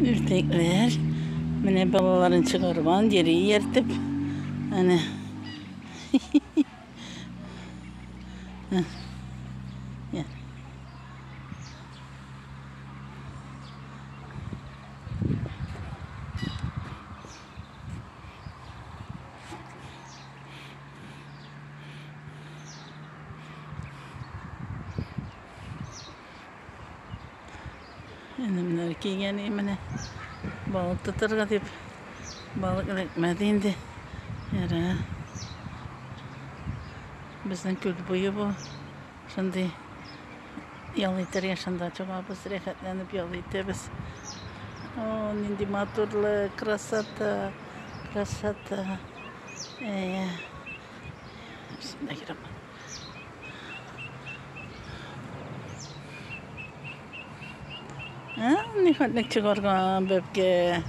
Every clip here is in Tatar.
Үртекләр. Менә балаларын чыгарган, йөри ияртеп. Әнә. Әнемнәр кигән менә. Балык тотырга дип. Балык эләкмәде инде. Яра. Безнең күл буе бу. Шундый ял итәргә шунда чыгабыз, рәхәтләнеп ял итәбез. О, нинди матурлы, красота, красота. Әйе. Шунда керәм. Ә, ни хәтле чыгарган бәбкә.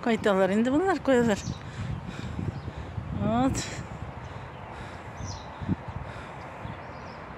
Кайталар инде булар куялар. Вот.